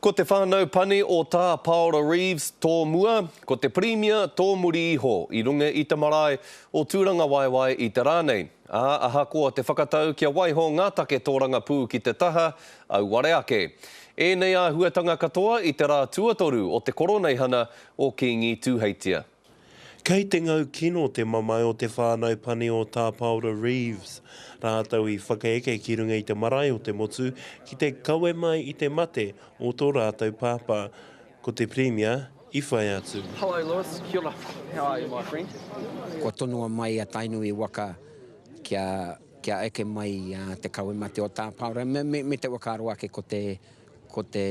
Ko te whānau pane o Tā Paora Reeves tō mua, ko te Pirimia tō muri iho, i runga i te marae o Tūrangawaewae i te rā nei. Ā, ahakoa te whakatau kia waiho ngā take tōrangapū ki te taha, auare ake. Ēnei āhuatanga katoa i te rā tuatoru o te Koroneihana o Kīngi Tūheitia. Kei te ngau kino te mamae o te whānau pani o Tā Paora Reeves, rātou i whakaeke ki runga i te marae o te motu ki te kawe mai i te mate o tō rātou pāpā, ko te Pirimia i whai atu. Hello Lewis, kia ora, how are you my friend? Kua tonoa mai a Tainui waka kia eke mai te kawe mate o Tā Paora me te whakaaro ake ko te. Ko te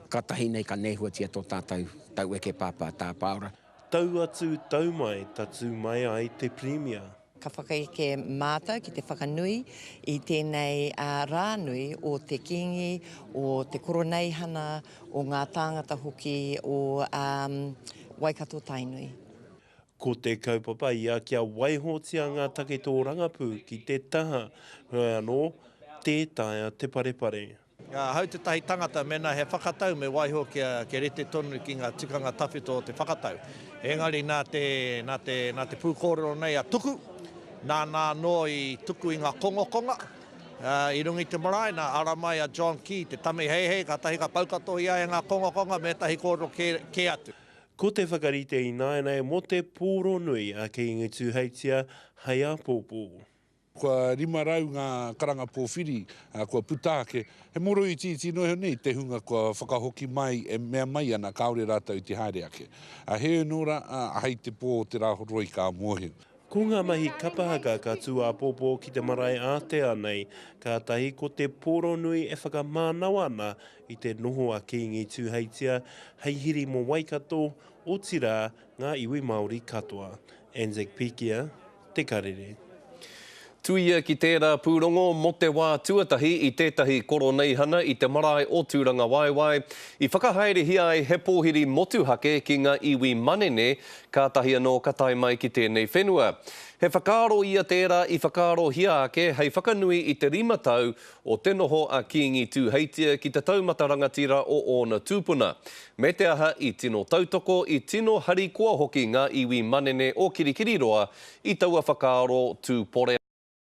katahi nei ka nehuatia tō tātou taueke pāpā tāpaora. Tau atu, tau mai, tatū mai ai te Pirimia. Ka whakaeke mātou ki te whakanui i tēnei rā nui o te Kīngi, o te Koroneihana, o ngā tāngata hoki o Waikato-Tainui. Ko te kaupapa ia kia waihotia ngā take tōrangapū ki te taha, heoi anō, tē taea te parepare. Ahau tētahi tangata mēnā he whakatau me waiho kia rite tonu ki ngā tikanga tawhito o te whakatau. Engari nā te, nā te, nā te pūkōrero nei a Tuku, nāna anō i tuku i ngā kongokonga, ā, i runga i te marae, nā, ara mai a John Key, te tamiheihei, kātahi ka pau katoa i a ia ngā kongokonga me ētahi kōrero kē, kē atu. Ko te whakarite ināianei mō te pōro nui a Kīngi Tūheitia hei āpōpō. Kua 500 ngā karanga pōwhiri kua puta ake. He mōro itiiti noa iho nei te hunga kua whakahoki mai e mea mai ana kāore rātou i te haere ake. He ōno rā, ahei te pō o te Rāhoroi ka mōhio. Ko ngā mahi kapa haka ka tū āpōpō ki te marae ātea nei, kātahi ko te pōro nui e whakamānawa ana I te noho a Kīngi Tūheitia hei hiri mō Waikato, otirā, ngā iwi Māori katoa. Anzac Pikia, Te Karere. Tuia ki tērā pūrongo mō te wā tuatahi i tētahi koroneihana i te marae o Tūrangawaewae, i whakahaerehia ai he pōhiri motuhake ki ngā iwi manene, kātahi anō ka tae mai ki tēnei whenua. He whakaaro ia tērā i whakaarohia ake hei whakanui i te rima tau o te noho a Kīngi Tūheitia ki te taumata rangatira o ōna tūpuna, me te aha i tino tautoko, i tino harikoa hoki ngā iwi manene o Kirikiriroa i taua whakaaro tū pore.